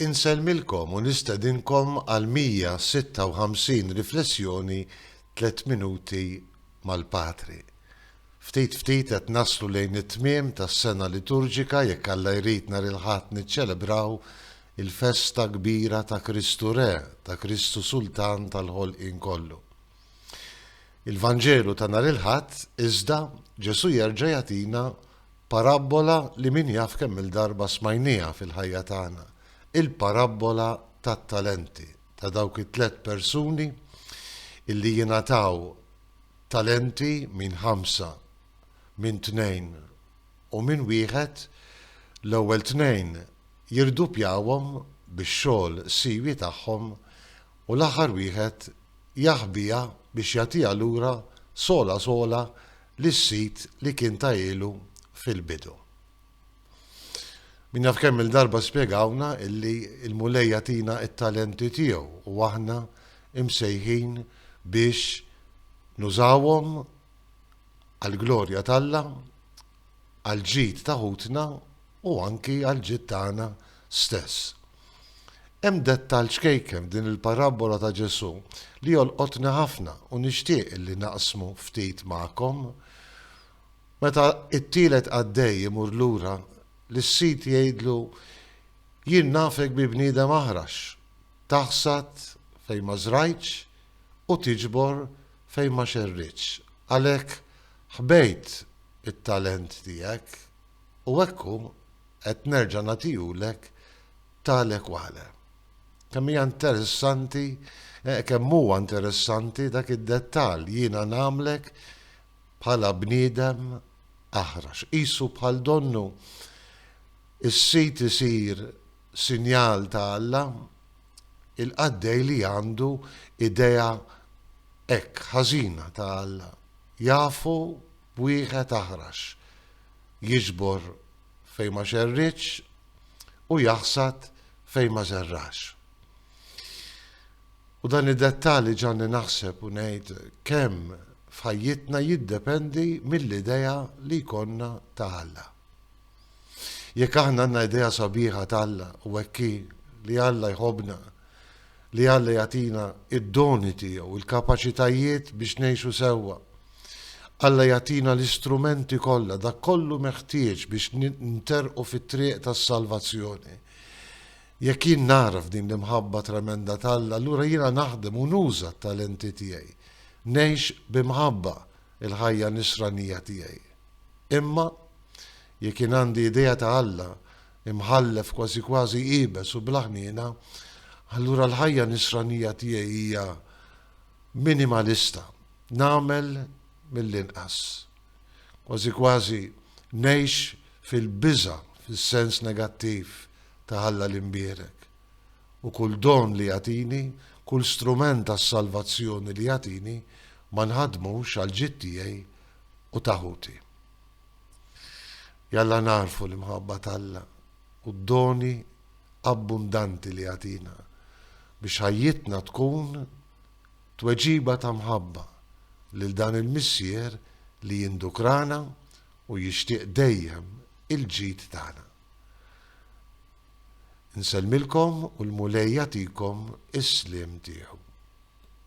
Insellmilkom u nistedinkom għall-156 riflessjoni Tliet Minuti mal-Patri. Ftit ftit qed naslu lejn it-tmiem tas-sena liturġika, jekk Alla jrid nhar il-Ħadd niċċelebraw il-festa kbira ta' Kristu Re, ta' Kristu Sultan tal-ħolqien kollu. Il-Vanġelu ta' nhar il-Ħadd, iżda, Ġesù jerġa' jagħtina parabbola li min jaf kemm-il darba smajnieha fil-ħajja tagħna, il-parabbola tat-talenti, ta' dawk it-tliet persuni illi jingħataw talenti, min ħamsa, min tnejn u min wieħed, l-ewwel tnejn jirduppjawhom bix-xogħol siwi tagħhom, u l-aħħar wieħed jaħbiha biex jagħtiha lura sola sola lis-sid li kien tahielu fil-bidu. Min jaf kemm-il darba spjegawna illi l-Mulej jagħtina t-talenti tiegħu u aħna msejħin biex nużawhom għall-glorja t'Alla għall-ġid ta' ħutna u anki għall-ġid tagħna stess. Hemm dettall ċkejken f'din il-parabbola ta' Ġesù li jolqotni ħafna u nixtieq li naqsmu ftit magħkom. Meta t-tielet qaddej imur lura, lis-sid jgħidlu, Jien nafek bi bniedem aħrax, taħsad fejn ma żrajtx u tiġbor fejn ma xerridtx. Għalhekk ħbejt it-talent tiegħek u hekk hu qed nerġa' nagħtihulek tale quale. Kemm hija interessanti, eh, kemm huwa interessanti dak id-dettall jiena nagħmlek bħala bniedem aħrax. Qisu bħal donnu is-sit isir sinjal ta' Alla il-qaddej li għandu idea hekk ħażina ta' Alla jafu b'wieħed aħrax, jiġbor fejn ma xerridx u jaħsad fejn ma żerrax. U dan id-dettall ġanni naħseb u ngħid kemm f'ħajjitna jiddependi mill-idea li jkollna ta' Alla. Jekk aħna għandna idea sabiħa t'Alla u hekk hi li Alla jħobbna, li Alla jagħtina d-doni tiegħu, il-kapaċitajiet biex ngħixu sewwa. Alla jagħtina l-istrumenti kollha, dak kollu meħtieġ biex nterqu fit-triq tas-salvazzjoni. Jekk jien nagħraf din l-imħabba tremenda t'Alla, allura jiena naħdem u nuża t-talenti tiegħi. Ngħix b'imħabba, il-ħajja nisranija tiegħi. Imma, jekk jien għandi idea ta' Alla imħallef kważi kważi iebes u bla ħniena, allura l-ħajja nisranija tiegħi hija minimalista. Nagħmel mill-inqas. Kważi kważi ngħix fil-biża' fis-sens negattiv ta' Alla l-imbierek. u kull don li jagħtini, kull strument għas-salvazzjoni li jagħtini, ma nħaddmux għall-ġid tiegħi u ta' ħuti. Jalla nagħrfu l-imħabba t'Alla u d-doni abbundanti li jagħtina biex ħajjitna tkun tweġiba ta' mħabba lil dan il-Missier li jindukrana u jixtieq dejjem il-ġid tagħna. Nsellmilkom u l-Mulej jagħtikom is-sliem tiegħu.